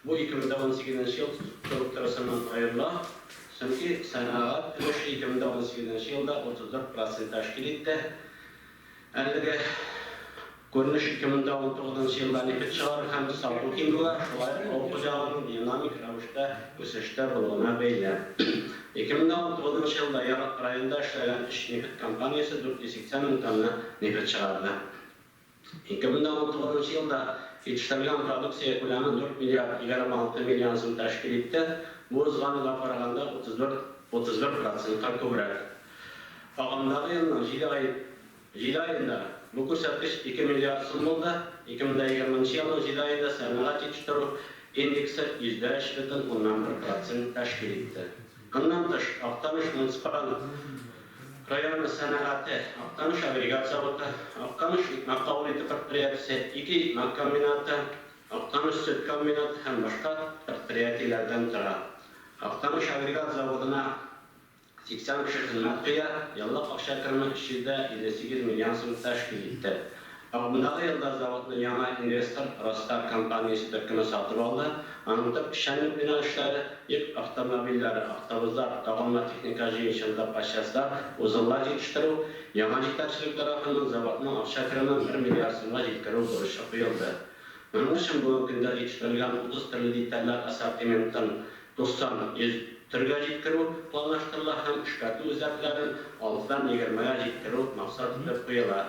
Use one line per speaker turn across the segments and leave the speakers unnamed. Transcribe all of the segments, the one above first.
Бу 2018 нче ел торып торысыннан аерыла, чөнки сәнәгать өлеше 2018 нче елда 34 процент тәшкил итте. Әлеге күренеш 2019 нчы елда нефть чыгару һәм сату ким була, шулай ук авыл хуҗалыгының динамик рәвештә үсештә булуына бәйле. 2019 нчы елда Яр районында эшләгән өч нефть компаниясе 480 мең тонна нефть чыгарды. Ике мең дә унтугызынчы елда җитештерелгән продукция күләме дүрт миллиард егерме алты миллион сум тәшкил итте, бу узган елга караганда утыз дүрт утыз бер процентка күбрәк. Агымдагы елның җиде ай җиде аенда бу күрсәткеч ике миллиард сум булды, ике мең дә егерме нче елның җиде аенда сәнәгать җитештерү индексы йөз дә өч бөтен уннан бер процент тәшкил итте. Моннан тыш, Актаныш муниципаль районы сәнәгате, Актаныш агрегат заводы, Актаныш икмәк кабул итү предприятиесе, ике икмәк комбинаты, Актаныш сөт комбинаты һәм башка предприятиеләрдән тора. Актаныш агрегат заводына 80 кеше хезмәт куя, еллык акча кереме 358 миллион сум тәшкил итте. Алдындагы елда заводны яңа инвестор Ростар компаниясе төркеме сатып алды. Аның төп эшчәнлек юнәлешләре, йөк автомобильләре, автобуслар, тагынла техника җыенчылыгы по частьлар, узеллар җитештерү. Яңа җитәкчелек тарафыннан заводның акча керемен бер миллиард сумга җиткерү бурычы куелды. Моның өчен бүгенге көндә җитештерелгән утыз төрле детальләр ассортиментын 90, 100, төргә җиткерү планлаштырыла һәм эшкәртү эзәрлекләрен 6-дан 20-гә җиткерү максат итеп куела.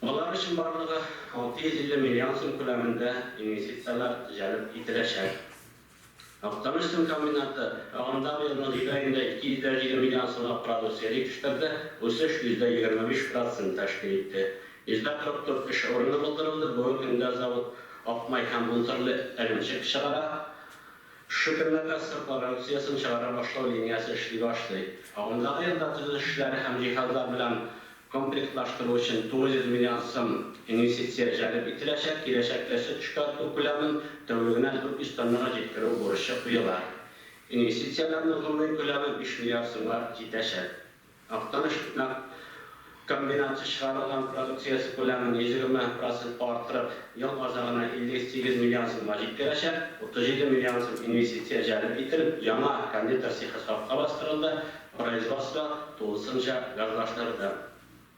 Болар өчен барлыгы 650 миллион сум күләмендә инвестицияләр җәлеп ителәчәк. Актаныш сын комбинаты агымдагы елның җиде аенда 257 миллион сумлык продукция җитештерде, үсеш %25 процентны тәшкил итте. 144 эш урыны булдырылды, бүгенге көндә завод ак май һәм унтөрле эремчек чыгара. Шөкерләргә сыр продукциясен чыгара башлау линиясе эшли башлый. Агымдагы елда төзелеш эшләре һәм җиһазлар белән комплектлаштыру өчен 900 миллион сым инвестиция җәлеп ителәчәк, киләчәктә сөт эшкәртү күләмен тәүлегенә 400 тоннага җиткерү бурычы куела. Инвестицияләрнең гомуми күләме биш миллиард сумга җитәчәк. Актаныш күмәк комбинаты чыгарылган продукциясе күләмен 120 процентка арттырып, ел азагына 58 миллион сумга җиткерәчәк. 37 миллион сум инвестиция җәлеп ителеп, яңа кондитер цехы сафка бастырылды, производство тулысынча газлаштырылды.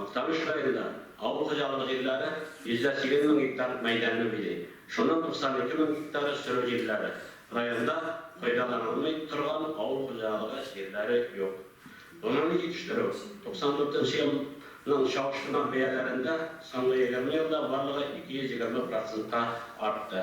Актаныш районында авыл хуҗалыгы җирләре 180 мең гектар мәйданны били. Шуның 92 мең гектары сөрү җирләре. Районда файдаланылмый торган авыл хуҗалыгы җирләре юк. Гомуми җитештерү 94 нче елның чагыштырма бәяләрендә соңгы егерме елда барлыгы 220 процентка артты.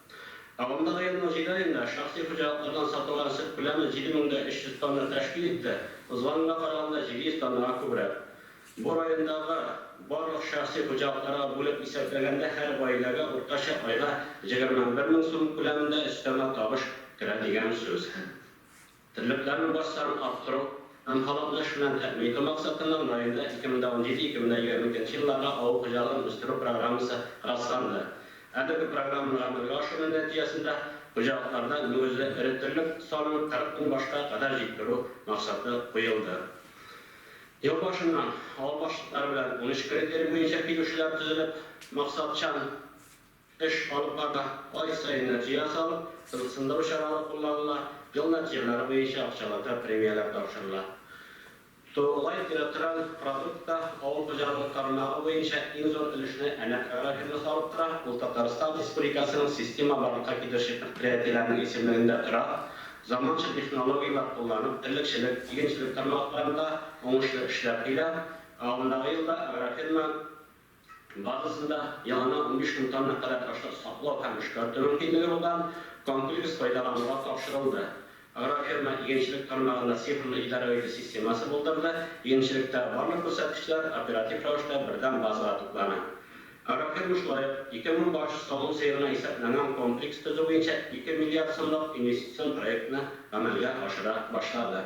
Агымдагы елның җиде аенда шәхси хуҗалыклардан сатылган сөт күләме 7300 тонна тәшкил итте, узганга караганда 700 тоннага күбрәк. Бу райондагы барлык шәхси хуҗалыкларга бүлеп исәпләгәндә һәр гаиләгә уртача айга 21000 сум күләмендә өстәмә табыш керә дигән сүз. Терлекләрне бар санын арттыру һәм халыкны эш белән тәэмин итү максатыннан районда 2017-2022 елларга авыл хуҗалыгын үстерү программасы расланды. Әлеге программаны гамәлгә ашыру нәтиҗәсендә хуҗалыкларда мөгезле эре терлек санын 40 мең башка кадәр җиткерү максаты куелды. Ел башыннан авыл башлыклары белән 13 критерий буенча килешүләр төзелеп, максатчан, Эш алып баруда ай саен нәтиҗә ясалып, кызыксындыру чаралары кулланыла, ел нәтиҗәләре буенча акчалата премияләр тапшырыла. Тургай территориаль продуктта авыл хуҗалыгы тармагы буенча иң зур өлешне Әнәк агрофирмасы алып тора, ул Татарстан Республикасының система барлыкка китерүче предприятиеләренең исемлегендә тора, заманча технологияләр кулланып, терлекчелек, игенчелек тармакларында уңышлы эшләр килә, ә алдындагы елда агрофирма. Барысын да елына унбиш мең тонна кадәр ташлар саклау һәм эшкәртү мөмкинлеге булган комплекс файдалануга тапшырылды. Агрофирма игенчелек тармагында цифрлы идарә-итү системасы булдырды, игенчелектәге барлык күрсәткечләр оператив рәвештә бердәм базага туплана. Агрофирма шулай ук ике мең баш савым сыерына исәпләнгән комплекс төзү буенча ике миллиард сумлык инвестицион проектны гамәлгә ашыра башлады.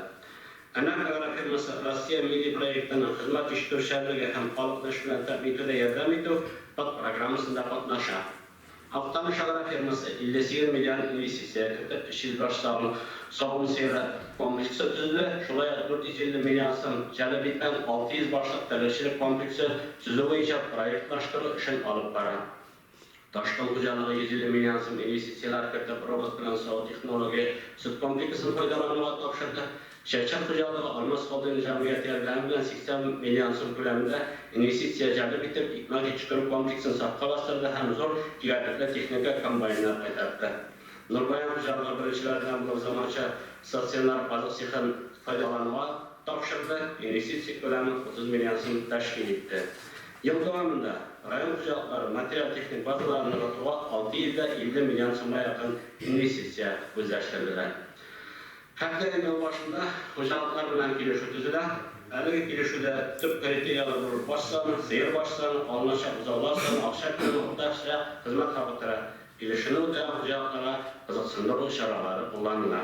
Anak Agro фирмасы Россия милли проектының Хезмәт җитештерүчәнлеге һәм халыкны эш белән тәэмин итүдә ярдәм итү подпрограммасында катнаша. Актаныш Агро фирмасы 58 миллион инвестиция кертеп, өч йөз баш савым савым сыеры комплексы төзеде, шулай ук 450 миллион сум җәлеп иткән 600 башлык терлекчелек комплексы төзү буенча проектлаштыру эшен алып бара. Ташкын хуҗалыгы 150 миллион сум инвестицияләр кертеп, робот белән саву технология сөт комплексын файдалануга тапшырды. Чәчәк хуҗалыгы Алмаз холдингы җәмгыяте ярдәме белән 80 миллион сум күләмендә инвестиция җәлеп итеп, икмәк җитештерү комплексын сафка бастырды һәм зур кирәклекле техника, комбайннар кайтартты. Нурбаян хуҗалыгы беренчеләр белән булып заманча стационар азык цехын файдалануга тапшырды, инвестиция күләме 30 миллион сум тәшкил итте. Ел дәвамында район хуҗалыклары материаль-техник базаларын ныгытуга 650 миллион сумга якын инвестиция күздә тотелә. Һәр даими ел башында хуҗалыклар белән килешү төзелә. Әлеге килешүдә төп критерияләр булып баш саны, сыер баш саны, алыначак бозаулар саны, акча күләме, уртача хезмәт хакы тора. Килешүне үтәгән хуҗалыкларга кызыксындыру чаралары кулланыла.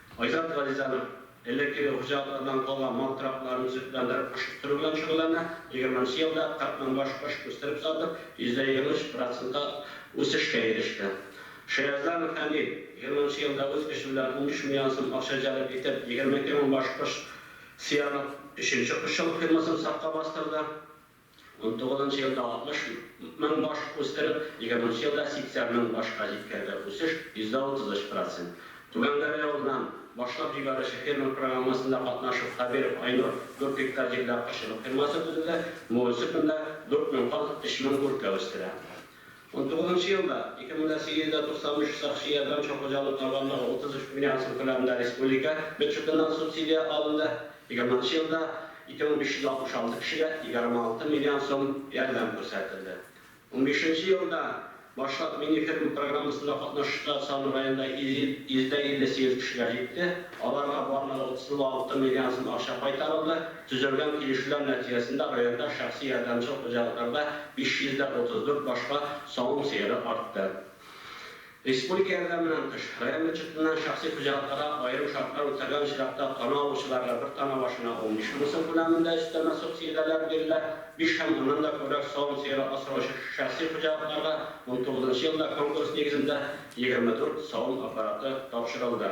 Айзат Газизанов элеккеге хуҗалыклардан калган мал торакларын төзекләндереп, кош үстерү белән шөгыльләнә. Егерменче елда 40 мең баш кош үстереп сатып, %23 процентлы үсешкә иреште. Шаязданов Фәнил егерменче елда үз көче белән унбиш миллион сум акча җәлеп итеп, 22 мең баш кош сыярлык өченче кошчылык фермасын сафка бастырды. Унтугыз нчы елда 60 мең баш үстереп, егерменче елда 80 мең башка җиткәрде, үсеш %33 процент. Түбән Гәрә явызыннан башлап җибәрүче фермер программасында катнашып, Хәбиров Айнур 4 гектар җирдә кошчылык фермасы төзеде, Муэсыпенда 4 мең каз, 3 мең үркә үстерә. Унтугызынчы елда, 2893 сакчы ярдәм өчен хуҗалык табанлыгы 33 миллион сум күләмендә республика бюджетыннан субсидия алынды, егерменче елда 2566 кешегә 26 миллион сум ярдәм күрсәтелде. Унбишенче елда Башлык мини-ферма программасында катнашучылар саны районда 158 кешегә җитте, аларга барлыгы 36 миллион сум акча кайтарылды. Төзелгән килешүләр нәтиҗәсендә районда шәхси ярдәмчел хуҗалыкларда 534 башка савым сыеры артты. Республика ярдәменнән тыш, район бюджетыннан шәхси хуҗалыкларга аерым шартлар үтәлгән очракта тана алучыларга бер тана башына 15 мең сум күләмендә өстәмә субсидияләр бирелә, биш һәм аннан да күбрәк савым сыеры асраучы шәхси хуҗалыкларга унтугызынчы елда конкурс нигезендә 24 савым аппараты тапшырылды.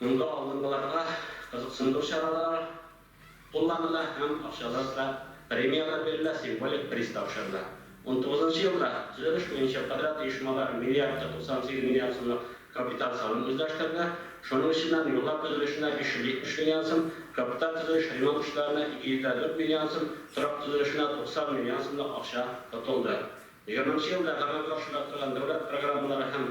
Монда алдынгыларга кызыксындыру чаралары кулланыла һәм акчалар да, премияләр бирелә, символик приз тапшырыла. Унтугызынчы елда төзелеш буенча подряд оешмалары миллиардка 98 миллион сумлык капиталь салым үзләштерде, шуның эченнән юллар төзелешенә 570 миллион сум, капиталь төзелеш-ремонт эшләренә 204 миллион сум, торак төзелешенә 90 миллион сумлык акча тотылды. Егерменче елда гамәлгә ашырыла торган дәүләт программалары һәм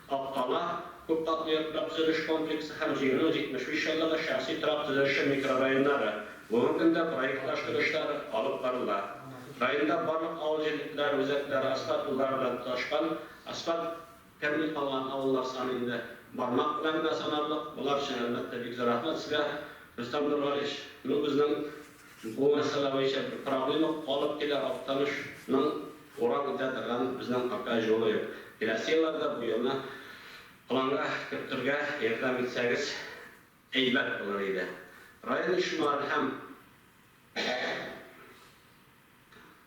Капкала, күпкатлы йортлар төзелеш комплексы һәм җиңүнең 75 еллыгы шәхси торак төзелеше микрорайоннары, бүгенге көндә проектлаштыру эшләре алып барыла. Районда барлык авыл җирлекләре үзәкләре асфальт юллары белән тоташкан, асфальт. Тәмле калган авыллар саны инде бармак белән генә санарлык, болар өчен, әлбәттә, бик зур рәхмәт сезгә, Рөстәм Нургалиевич. Ну, безнең Бу мәсьәлә буенча бер проблема калып килә, Актаныш ның урам үтә торган безнең ака җолы юк. Киләсе елларда бу юлны планга кертергә ярдәм итсәгез әйбәт булыр иде. Район оешмалары һәм.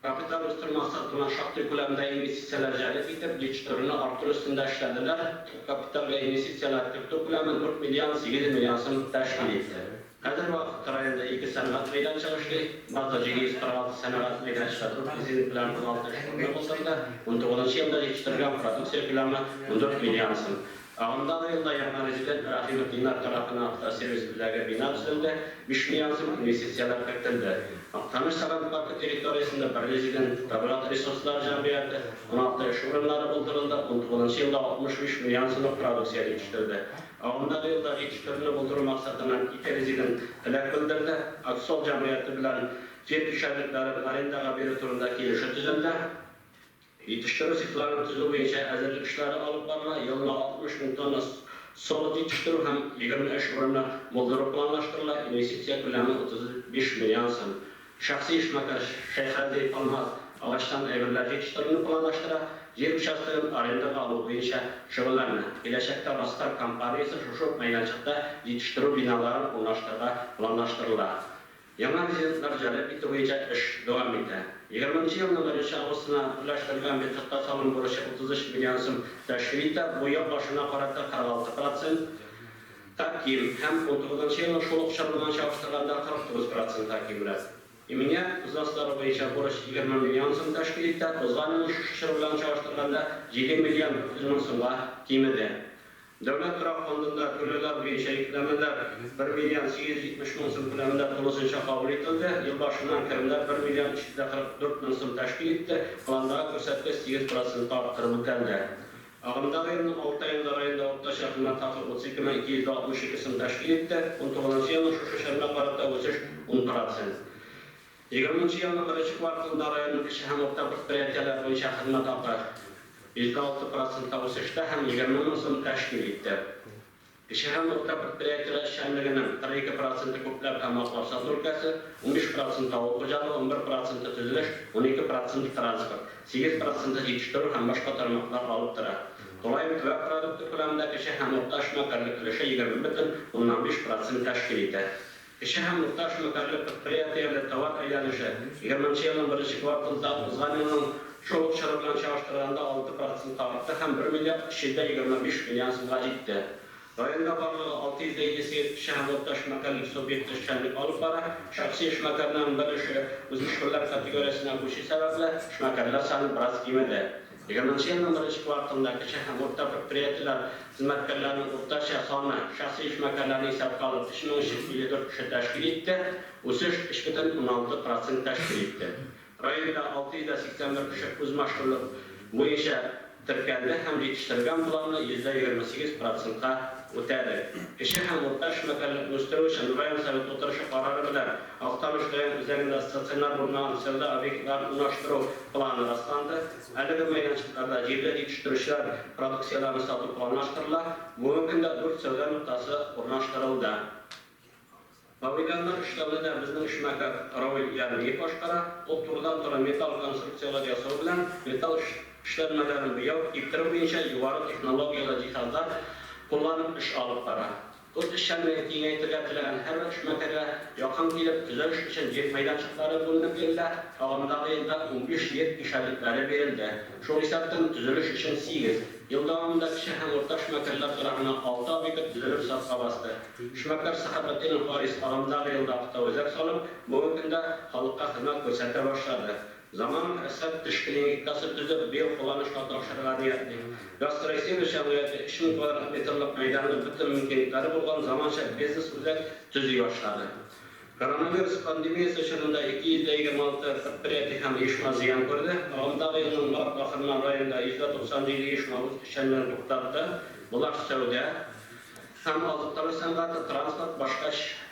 Капиталь үстерү максатына шактый күләмдә инвестицияләр җәлеп итеп, дичторны арттыру өстендә эшләделәр. Төп капиталга инвестицияләр кертү күләме 4 миллион 800 миллион сум тәшкил итте. Хәзерге вакытта районда ике сәнгать мәйданчыгы эшли. Базда 746 сәнәгать мәйданчыгы дүрт лизинг белән 16 эш урыны булдырды. Унтугызынчы елда җитештерелгән продукция күләме 14 миллион сум. Агымдагы елда яңа резидент Рәхимытдиннар тарафыннан Автосервис үзәге бина төзелде, биш миллион сум инвестицияләр кертелде. Актаныш сәгать паркы территориясендә бер резидент, Табигать ресурслары җәмгыяте, уналты эш урыннары булдырылды, унтугызынчы елда 65 миллион сумлык продукция җитештерде. Агымдагы елда җитештерүне булдыру максатыннан ике резидент теләк белдерде, Аксол җәмгыяте белән җир участокларын арендага бирү турында килешү төзелде. Җитештерү цехларын төзү буенча әзерлек эшләре алып барыла, елына 60 мең тонна солод җитештерү һәм 23 урынны булдыру планлаштырыла, инвестиция күләме 35 миллион сум. Шәхси эшмәкәр Шәйхәлдиев Алмаз агачтан әйберләр җитештерүне планлаштыра, җир участогын арендага алу буенча шөгыльләнә. Киләчәктә Востар компаниясе шушы ук мәйданчыкта җитештерү биналарын урнаштырырга планлаштырыла. Яңа резидентлар җәлеп итү буенча эш дәвам итә. Егерме нче елның беренче августына түләштерелгән бюджетка салым бурычы 33 миллион сум тәшкил итә, бу ел башына карата 46 процентка ким һәм унтугызынчы елның шул ук чоры белән чагыштырганда 49 процентка кимрәк. Иминият взносылары буенча бурыч егерме миллион сум тәшкил итә, узган елның шушы чоры белән чагыштырганда җиде миллион 900 мең сумга кимеде. Дәүләт торак фондында түләүләр буенча йөкләмәләр бер миллион 870 мең сум күләмендә тулысынча кабул ителде. Ел башыннан керемнәр бер миллион 344 мең сум тәшкил итте, пландагы күрсәткеч сигез процентка арттырып үтәлде. Агымдагы елның алты аенда районда уртача кыйммәт хакы 32 мең 262 сум тәшкил итте, унтугызынчы елның шушы чорына карата үсеш ун процент. Егерменче елның беренче кварталында районның кече һәм урта предприятиеләр буенча хезмәт хакы җиде алты процентка үсештә һәм егерме мең сумны тәшкил итте. Кече һәм урта предприятиеләр эшчәнлегенең кырык ике проценты күпләп һәм аклап сату өлкәсе, унбиш проценты авыл хуҗалыгы, унбер проценты төзелеш, унике проценты транспорт, сигез проценты җитештерү һәм башка тармаклар алып тора. Тулаем төбәк продукты күләмендә кече һәм урта эшмәкәрлек өлеше егерме бөтен уннан биш процент тәшкил итә. Кече һәм урта эшмәкәрлек предприятиеләре товар әйләнеше егерменче елның беренче кварталында узган елның шул ук чоры белән чагыштырганда алты процентка артты һәм бер миллиард өч йөз дә егерме биш миллион сумга җитте. Районда барлыгы алты йөз дә илле сигез кече һәм урта эшмәкәрлек субъекты эшчәнлек алып бара. Шәхси эшмәкәрнең бер эше үзмөшкерләр категориясенә күчү сәбәпле, эшмәкәрләр саны бераз кимеде. Егерменче елның беренче кварталында кече һәм урта предприятиеләр хезмәткәрләренең уртача саны, шәхси эшмәкәрләрне исәпкә алып, 3354 кеше тәшкил итте, үсеш 3,6 процент тәшкил итте. Районда 681 кеше үзмашкүрлек буенча теркәлде һәм җитештерелгән планны йөздә егерме сигез процентка үтәде. Кече һәм урта эшмәкәрлекне үстерү өчен район Советы утырышы карары белән Актаныш район үзәгендә стационар урыннан сәүдә объектларын урнаштыру планы расланды. Әлеге мәйданчыкларда җирле җитештерүчеләр продукцияләрен сату планлаштырыла. Бүгенге көндә дүрт сәүдә ноктасы урнаштырылды. Павильоннар өчтәвен дә безнең эшмәкәр Равил Ярмиев башкара. Ул турыдан-туры металл конструкцияләр ясау белән металл эшләнмәләрен буяу, киптерү буенча югары технологияле җиһазлар кулланып эш алып бара. Үз эшчәнлеген киңәйтергә теләгән һәрбер эшмәкәргә якын килеп, төзелеш өчен җир мәйданчыклары бүленеп бирелә, агымдагы елда унбиш җир ишарәлекләре бирелде. Шул исәптән, төзелеш өчен сигез. Ел дәвамында кече һәм урта эшмәкәрләр торагына алты объект төзелеп сафка басты. Эшмәкәр Сәхәбетдинов Харис агымдагы елда автоөзәк салып, бүгенге көндә халыкка хезмәт күрсәтә башлады. Заман икътисад тәшкилиәгикасы төзеп, биокулланышка тапшырырга ниятли. Гастросервис җәмгыяте өч мең квадрат метрлык мәйданны бөтен мөмкинлекләре булган заманча бизнес-үзәк төзи башлады. Коронавирус пандемиясе чорында 256 предприятие һәм оешма зыян күрде. Агымдагы елның март ахырына районда 197 оешма үз эшчәнлеген туктатты, болар, сәүдә, Һәм азыктыру сәнгате, транспорт, башка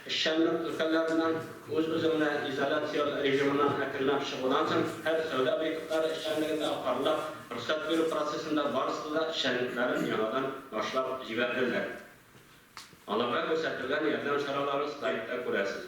эшчәнлек өлкәләреннән үз-үзеңне изоляцияләү режимыннан әкренләп чыгудан соң һәр сәүдә объектлары эшчәнлегендә апарыла, рөхсәт бирү процессында барысы да эшчәнлекләрен яңадан башлап җибәрделәр. Аларга күрсәтелгән ярдәм чараларын слайдта күрәсез.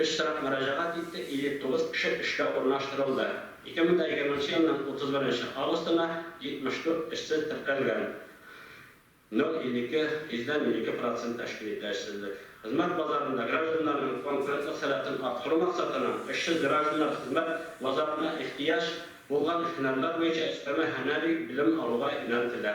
Өч сорак мөрәҗәгать итте, 59 кеше эшкә урнаштырылды. 2020 елның 31 августына 74 эшсез теркәлгән, 0,52, йөздән 0,52 процент тәшкил итә эшсезлек. Хезмәт базарында гражданнарның конкурентлык сәләтен арттыру максатына, эшсез гражданнар хезмәт базарына ихтыяҗ булган һөнәрләр буенча өстәмә һөнәри белем алуга юнәлтелә.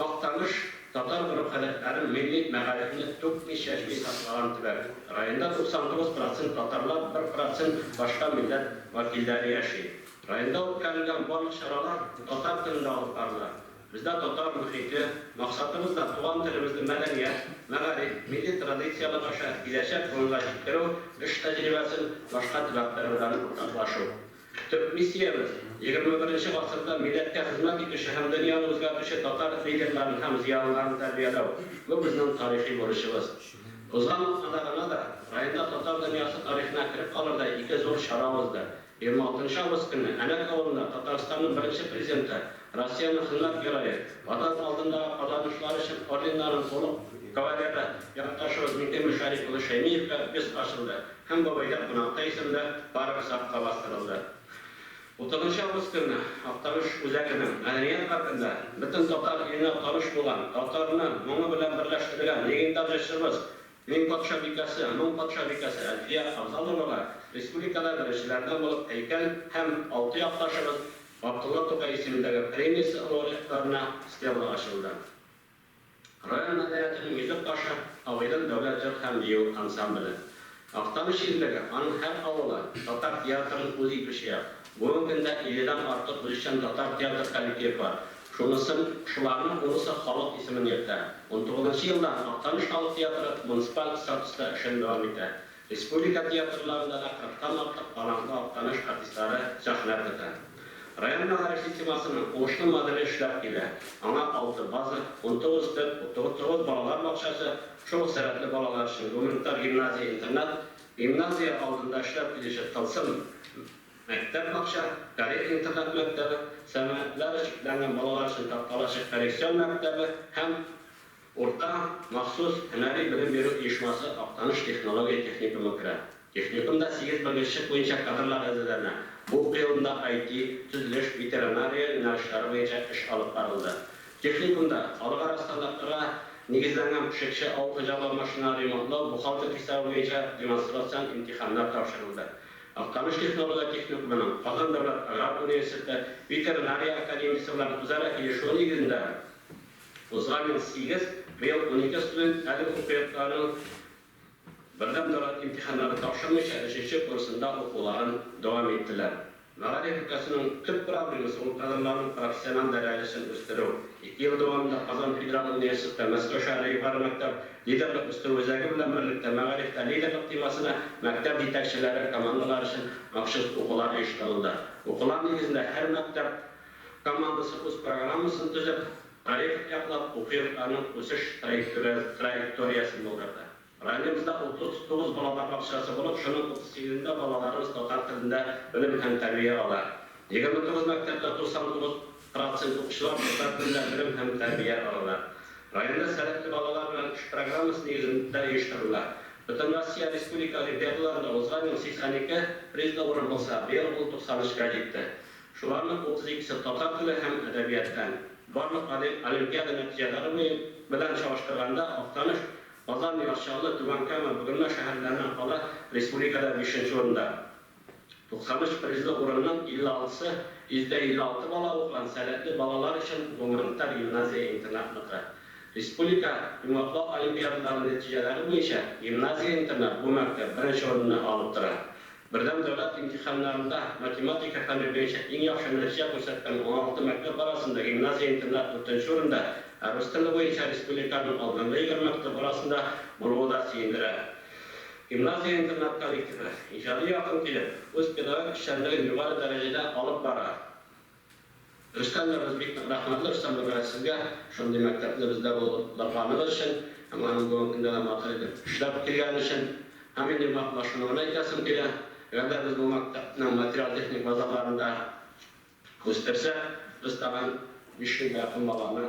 Актаныш, татар гореф-гадәтләрен, милли мәгарифне түкми-чәчми саклаган төбәк. Районда 99 процент татарлар, 1 процент башка милләт вәкилләре яши. Районда үткәрелгән барлык чаралар татар телендә алып барыла. Бездә татар мохите, максатыбыз да туган телебезне мәдәният, мәгариф, милли традицияләр аша киләчәк буынга җиткерү эш тәҗрибәсен башка төбәкләр белән уртаклашу. Төп миссиябез, егерме беренче гасырда милләткә хезмәт итүче һәм дөньяны үзгәртүче татар лидерларын һәм зыялыларын тәрбияләү. Бу безнең тарихи бурычыбыз. Узган атнада гына да районда татар дөньясы тарихына кереп калырдай ике зур чара узды. Егерме алтынчы август көнне Әләк авылында Татарстанның беренче Президенты, Россиянең Хезмәт Герое, Ватан алдындагы казанышлары өчен орденнарын тулы кавалеры якташыбыз Миңтимер Шәрип улы Шәймиевка бюст ачылды. Һәм бабайда кунакта исемле парк сафка бастырылды. Утызынчы август көнне Актаныш үзәгенең мәдәният паркында бөтен татар иленә таныш булган, татарны моңы белән берләштергән легендар җырчыбыз, Мең патша бикәсе, моң патша бикәсе Әлфия Авзаловага республикада беренчеләрдән булып һәйкәл һәм алты якташыбыз Габдулла Тукай исемендәге премиясе лауреатларына стелла ачылды. Район мәдәниятенең Йөзек кашы авылы дәүләт җыр һәм бию ансамбле. Актаныш җирлеге, аның һәр авылы, татар театрын үз итүче як. Бүгенге көндә 50 дән артык үзешчән татар театр коллективы бар. Шунысын, шуларның унысы халык исемен йөртә. Унтугызынчы елдан Актаныш халык театры муниципаль статуста эшен дәвам итә. Республика театрларында да кырыктан артык талантлы Актаныш артистлары сәхнә көтә. Район мәгарифи темасының уңышлы моделе эшләп килә, аңа алты база, унтугыз төп, утугыз балалар бакчасы, шул ук сәләтле балалар өчен гуманитар гимназия-интернат, гимназия алдында эшләп килүче Тылсым мәктәп-бакча, Карел интернат-мәктәбе, сәламәтләре чикләнгән балалар өчен Таркалачык коррекцион мәктәбе һәм. Урта, махсус, һөнәри белем бирү оешмасы Актаныш технология техникумы керә. Техникумда сигез белгечлек буенча кадрлар әзерләнә. Бу уку елында IT, төзелеш, ветеринария юнәлешләре буенча эш алып барылды. Техникумда халыкара стандартларга нигезләнгән пешекче, авыл хуҗалыгы машиналары ремонтлау, бухгалтер хисабы буенча демонстрацион имтиханнар тапшырылды. Актаныш технология техникумының Казан дәүләт аграр университеты ветеринария академиясе белән үзара килешүе нигезендә, Узган ел сигез, быел унике студент әлеге факультетларның бердәм дәүләт имтиханнарын тапшырмыйча өченче курсында укуларын дәвам иттеләр. Мәгариф өлкәсенең төп проблемасы, ул кадрларның профессиональ дәрәҗәсен үстерү. Ике ел дәвамында Казан федераль университеты, Мәскәү шәһәре югары мәктәп лидерлык үстерү үзәге белән берлектә Мәгарифтә лидерлык темасына мәктәп җитәкчеләре командалары өчен махсус укулар оештырылды. Укулар нигезендә һәр мәктәп командасы үз программасын төзеп, тарих яклап, уку йортларының үсеш траекториясен булдырды. Районыбызда 39 балалар бакчасы булып, шуның 38-ында балаларыбыз татар телендә белем һәм тәрбия ала. 29 мәктәптә 99 процент укучылар татар телендә белем һәм тәрбия алалар. Районда Сәләтле балалар белән эш программасы нигезендә оештырыла. Бөтенроссия республика олимпиадаларында узган ел 82 призлы урын булса, быел ул 93-кә җитте. Шуларның утыз икесе татар теле һәм әдәбияттан. Барлык олимпиада нәтиҗәләре белән чагыштырганда, Актаныш, Казан, Яр Чаллы, Түбән Кама, Бөгелмә шәһәрләреннән кала республикада бишенче урында. 93 призлы урынның 56-сы, 156 бала укыган сәләтле балалар өчен гуманитар гимназия-интернатныкы. Республика йомгаклау олимпиадалары нәтиҗәләре буенча гимназия-интернат бу мәктәп беренче урынны алып тора. Бердәм дәүләт имтиханнарында математика фәне буенча иң яхшы нәтиҗә күрсәткән уналты мәктәп арасында гимназия-интернат дүртенче урында, ә рус теле буенча республиканың алдынгы егерме мәктәп арасында булуы да сөендерә. Гимназия-интернат коллективы, иҗади якын килеп, үз педагогик эшчәнлеген югары дәрәҗәдә алып бара. Рөстәм дә без бик нык рәхмәтле Рөстәм Нургали сезгә, шундый мәктәпне бездә булдырганыгыз өчен һәм аның бүгенге көндә дә матур итеп эшләп килгәне өчен. Һәм минем вак башынуны әйтәсем килә, әгәр дә без бу мәктәпне материаль-техник базаларында үстерсәк, без тагын биш йөзгә якын баланы,